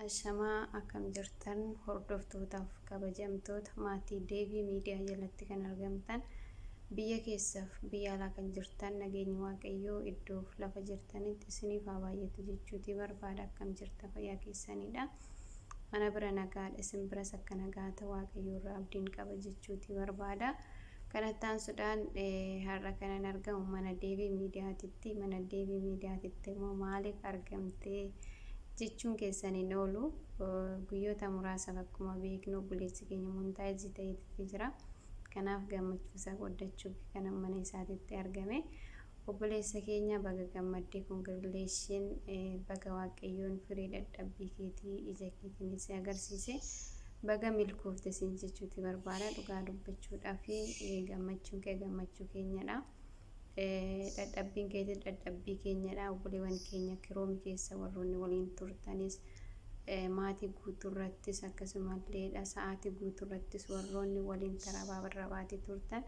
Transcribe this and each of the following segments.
Ashamaa akkam jirtan hordoftootaaf kabajamtoota maatii deebii miidiyaa jalatti kan argamtan biyya keessaaf biyya alaa kan jirtan nageenyi waaqayyoo iddoof lafa jirtanitti isiniif haa baay'atu jechuutii barbaada akkam jirta fayyaa keessaniidha. Ana bira nagaadha isin biras akka nagaa ta waaqayyoo irraa abdiin qaba jechuutii barbaada. Kan attaansuudhaan har'a kanan argamu mana deebii miidiyaatitti. Mana deebii miidiyaatitti immoo maaliif argamte jechuun keessan hin oolu. Guyyoota muraasaaf akkuma beeknu obboleessi keenya montaajii ta'eetitti jira. Kanaaf gammachuusaa qooddachuuf kanan mana isaatitti argame. Obboleessa keenya baga gammadde congratulation baga waaqayyoon firii dadhabbii keetii ija keetiin si agarsiise baga milkoofte siin jechuuti barbaada dhugaa dubbachuudhaaf gammachuun kee gammachuu keenyadha dadhabbiin keetis dadhabbii keenyadha obboleewwan keenya kiroomi keessa warroonni waliin turtanis maatii guutuurrattis akkasumalleedha sa'aatii guutuurrattis warroonni waliin tarabaa barrabaati turtan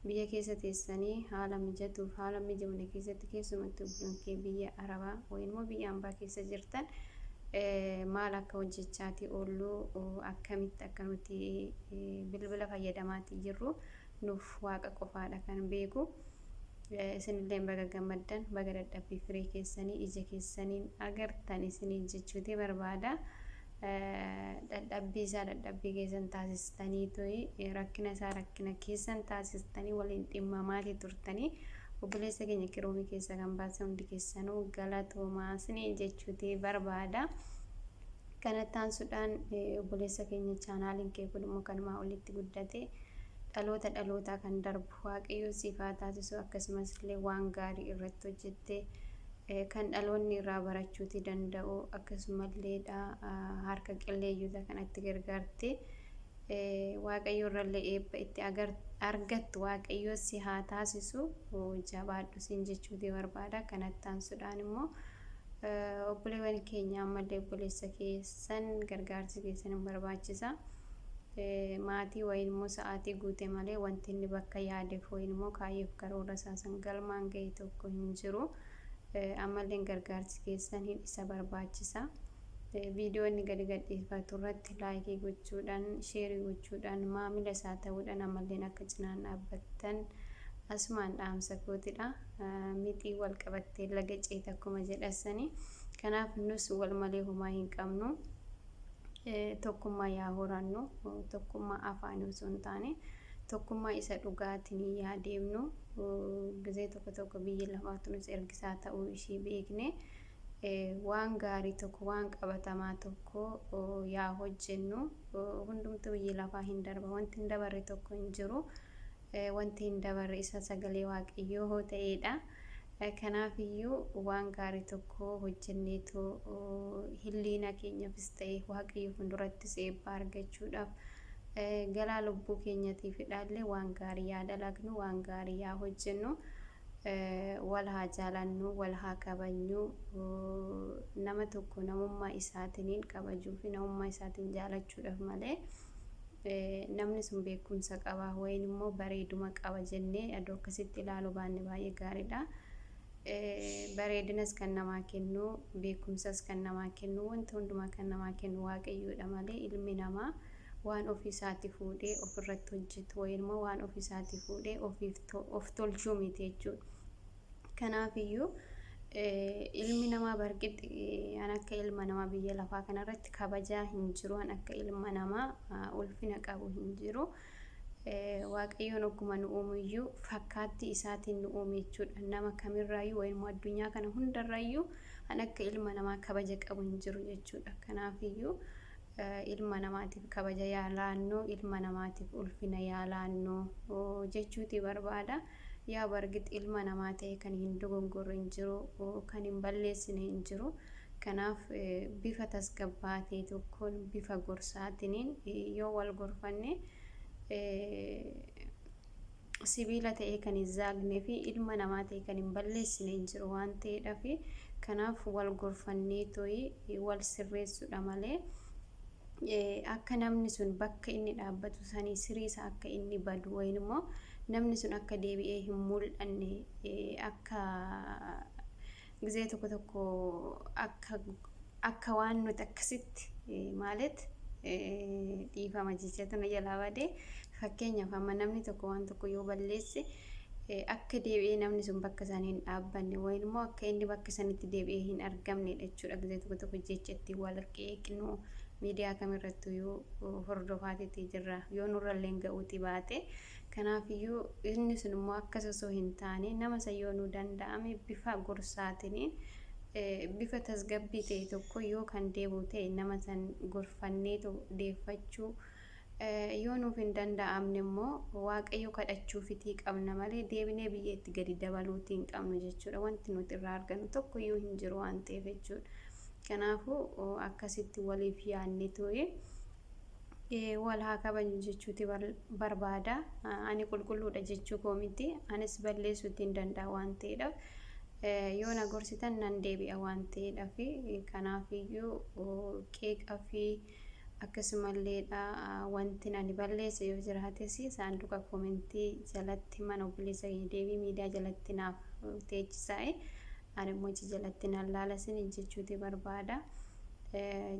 Biyya keessa teessanii haala mijatuuf haala hin mijoofne keessatti keessumattuu biyyoon kee biyya arabaa wayin immoo biyya ambaa keessa jirtan maal akka hojjechaatii oollu akkamitti akka nuti bilbila fayyadamaatii jirru nuuf waaqa qofaadha kan beeku isinilleen baga gammaddan baga dadhabbii firii keessanii ija keessaniin agartan isiniin jechuutii barbaada Dadhabbii isaa dadhabbii keessan taasistaniitoi, rakkina isaa rakkina keessan taasistanii waliin dhimmamaati turtanii. Obboleessa keenya qiroomii keessa kan baasan hundi keessanuu galatoomaa siniin jechuuti barbaada. Kana taansuudhaan obboleessa keenya chaanaaliin kee kun immoo kanumaa olitti guddate dhaloota dhalootaa kan darbu waaqayyoo siif haa taasisu akkasumas illee waan gaarii irratti hojjette kan dhaloonni irraa barachuuti danda'u akkasumallee dha harka qilleeyyota kanatti gargaarte waaqayyo irrallee eebba itti argattu waaqayyo si haa taasisu jabaadhu siin jechuuti barbaada kanatti aansuudhaan immoo obboleewwan keenya ammallee obboleessa keessan gargaarsi keessan hin barbaachisa. Maatii wayiin immoo sa'aatii guute malee wanti inni bakka yaadeef wayiin immoo kaayyoof karoora isaa san galmaan gahe tokko hin jiru. Ammalleen gargaarsi keessan hin isa barbaachisa. Viidiyoo inni gadi gadhiifatu irratti laayikii gochuudhaan, sheerii gochuudhaan, maamila isaa ta'uudhaan ammalleen akka cinaan dhaabbattan asumaan dhaamsa kootidha. Mixii wal qabattee laga ceeta akkuma jedhasanii. Kanaaf nus wal malee homaa hin qabnu. tokkummaa yaa horannu tokkummaa afaanii osoo hin taane tokkummaa isa dhugaatiin yaa deemnu gizee tokko tokko biyyi lafaatunis ergisaa ta'uu ishii beekne waan gaarii tokko waan qabatamaa tokko yaa hojjennu hundumtu biyyi lafaa hin darba wanti hin dabarre tokko hin jiru wanti hin dabarre isa sagalee waaqayyoo ta'eedha. Kanaaf iyyuu waan gaarii tokko hojjenneetoo hilliina keenyafis ta'e waaqayyo fundurattis eebbaa argachuudhaaf galaa lubbuu keenyatiifidhaallee waan gaarii yaa dalagnu waan gaarii yaa hojjennu wal haa jaalannu wal haa kabajnu nama tokko namummaa isaatiniin kabajuu fi namummaa isaatiin jaalachuudhaaf malee namni sun beekumsa qaba wayin immoo bareeduma qaba jennee aduu akkasitti ilaaluu baanne baay'ee gaariidha. Bareedinas kan namaa kennu beekumsas kan namaa kennu wanta hundumaa kan namaa kennu waaqayyoodha malee ilmi namaa waan ofii isaati fuudhee ofirratti hojjetu wayin immoo waan ofii isaati fuudhee ofiif of tolchuu miti jechuudha. Kanaaf iyyuu ilmi namaa barqixi an akka ilma namaa biyya lafaa kanarratti kabajaa hin jiru an akka ilma namaa ulfina qabu hin jiru. Waaqayyoon ogguma nu uumu iyyuu fakkaatti isaatiin nu uume jechuudha. Nama kamirraayyuu wayimoo addunyaa kana hundarrayyuu an akka ilma namaa kabaja qabu hin jiru jechuudha. Kanaaf iyyuu ilma namaatiif kabaja yaa laannu, ilma namaatiif ulfina yaa laannu jechuuti barbaada. Yaa bargit ilma namaa ta'ee kan hin dogongorre hin jiru, kan hin balleessine hin jiru. Kanaaf bifa tasgabbaa'aa ta'e tokkoon bifa gorsaatiniin yoo wal gorfanne sibiila ta'ee kan hin zaagnee fi ilma namaa ta'e kan hin balleessine hin jiru waan ta'eedhaaf kanaaf wal gorfannee to'ii wal sirreessuudha malee akka namni sun bakka inni dhaabbatu sanii sirii isaa akka inni badu wayin immoo namni sun akka deebi'ee hin mul'anne akka gizee tokko tokko akka akka waan nuti akkasitti maalet dhiifama jecha tana jalaa badee Fakkeenyaaf amma namni tokko waan tokko yoo balleesse akka deebi'ee namni sun bakka isaanii hin dhaabbanne wayin immoo akka inni bakka sanitti deebi'ee hin argamne jechuudha. Gizee tokko tokko jecha ittiin wal qeeqnu miidiyaa kamirrattuu yoo hordofaatii jirra yoo nurrallee ga'uuti baate kanaafiyyuu inni sun immoo akkas osoo hin taane nama isa yoo nu danda'ame bifa gorsaatiin bifa tasgabbii ta'e tokko yoo kan deebi'u ta'e nama san gorfanneetu deeffachuu Yoo nuuf hin danda'amne immoo Waaqayyo kadhachuufitii qabna malee deebinee biyya itti gadi dabaluutii hin qabnu jechuudha. Wanti nuti irraa argannu tokko iyyuu hin jiru waan ta'eef jechuudha. Kanaafuu akkasitti waliif yaadne tu'e wal haa kabajnu jechuuti barbaada. Ani qulqulluudha jechuu koo miti. Anis balleessuutii hin danda'a waan ta'eedhaaf. Yoo na gorsitan nan deebi'a waan ta'eedhaaf. Kanaafiyyuu qeeqa fi Akkasumallee dha wantin ani balleesse yoo jiraates saanduqa komentii jalatti himan obboleessa keenya deebii miidiyaa jalatti naaf teechisaa'e ani immoo achi jalatti nan laala isiniin jechuuti barbaada.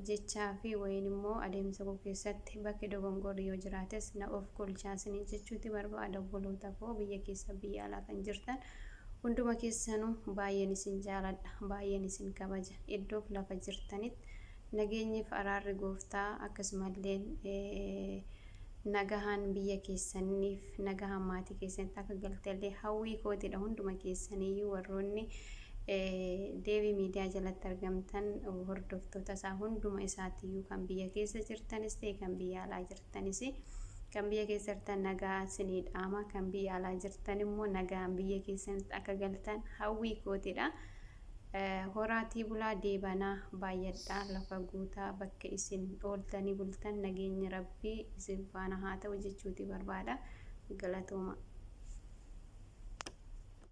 Jechaa fi wayiin immoo adeemsa koo keessatti bakki dogongorri yoo jiraates na of kolchaa isiniin jechuuti barbaada obboloota koo biyya keessa biyya alaa kan jirtan hunduma keessanuu baay'een isin jaaladha baay'een isin kabaja iddoof lafa jirtanitti Nageenyiif araarri gooftaa akkasumalleen nagahaan biyya keessanniif nagahaan maatii keessanitti akka galtellee hawwii kootidha hunduma keessaniyyuu warroonni deebii miidiyaa jalatti argamtan hordoftoota isaa hunduma isaatiyyuu kan biyya keessa jirtanis ta'e kan biyya alaa jirtanis kan biyya keessa jirtan nagaa sinii dhaama kan biyya alaa jirtan immoo nagaan biyya keessanitti akka galtan hawwii kootidha. Horaatii bulaa deebanaa baay'adhaa lafa guutaa bakka isin ooltanii bultan nageenyi rabbii isin faana haa ta'u jechuuti barbaada. Galatoomaa.